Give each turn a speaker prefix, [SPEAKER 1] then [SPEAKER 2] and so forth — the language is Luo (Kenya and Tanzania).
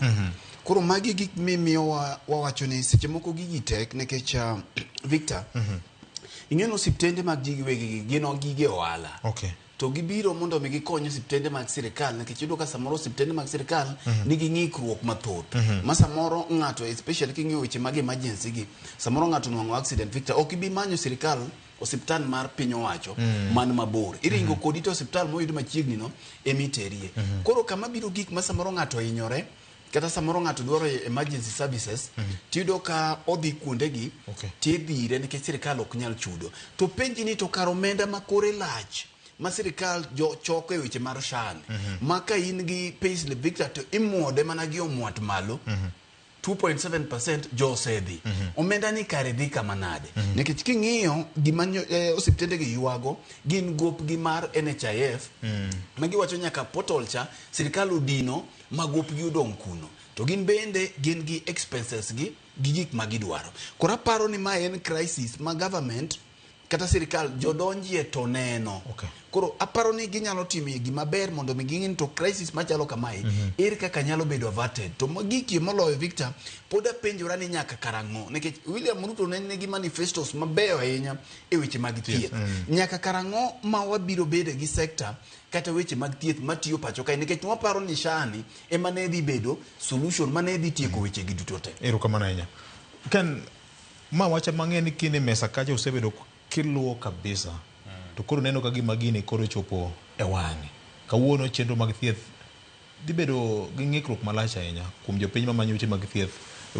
[SPEAKER 1] Mhm. Koro magi gik mimiyo wa- wawacho ni seche moko gigi tek nikech ah, Victor, ing'eyo ni osiptende mag ji giwegi gi gin gige ohala. Okay. to gibiro mondo mi gikony osiptende mag sirikal nikech iyudo ka samoro osiptende mag sirikal nigi ng'ikruok mathoth ma samoro ng'ato especially king'iyo weche mag emergency gi samoro ng'ato onwang'o accident victor ok ibi manyo sirikal osiptal mar piny owacho man mabor iringo kodi to osiptal moyud machiegni no ema iterie koro kama biro gik ma samoro ng'ato ohinyore kata samoro ng'ato dwaro emergency services tiyudo ka odhi kuondegi Okay. tidhire nikech sirikal ok nyal chudo to penji ni to kar omenda ma kore lach ma sirikal jo- choko e weche mar shan ma ka in gi payslip victor to imuode mana gi omwat malo 2.7% jo osedhi mm -hmm. omenda ni kare dhi kama nade mm -hmm. nikech king'iyo gima eh, osiptende gi yuago gin gop gi mar NHIF mm -hmm. ma giwacho nyaka portal cha sirikal odino ma gop gi odong kuno to gin bende gin gi expenses gi gi gik ma gidwaro koro aparo ni ma en crisis ma government kata sirikal jodonjie to neno okay. koro aparo ni ginyalo timie gima ber mondo mi ging'e to crisis machalo kamae mm -hmm. ere kaka nyalo bedo averted to gikie moloyo Victor pod apenjora ni nyaka karang'o nikech William Ruto ne nigi manifestos mabeyo ahinya e weche mag thieth yes. mm -hmm. nyaka karang'o ma wabiro bedo gi sector kata weche mag thieth matiyo pacho kae nikech waparo ni shani ema ne dhi bedo solution ma ne dhi tieko mm -hmm. weche gi duto te erokamano ahinya
[SPEAKER 2] Ken Ma wach ema ang'eyo ni kine mesa kacha usebedo kiluwo kabisa to koro neno ka gima gini koro ochopo e wang'e. Kawuono chenro mag thieth dhi bedo gi ng'ikruok malach ahinya kuom jopiny mamanyo ute mag thieth e ute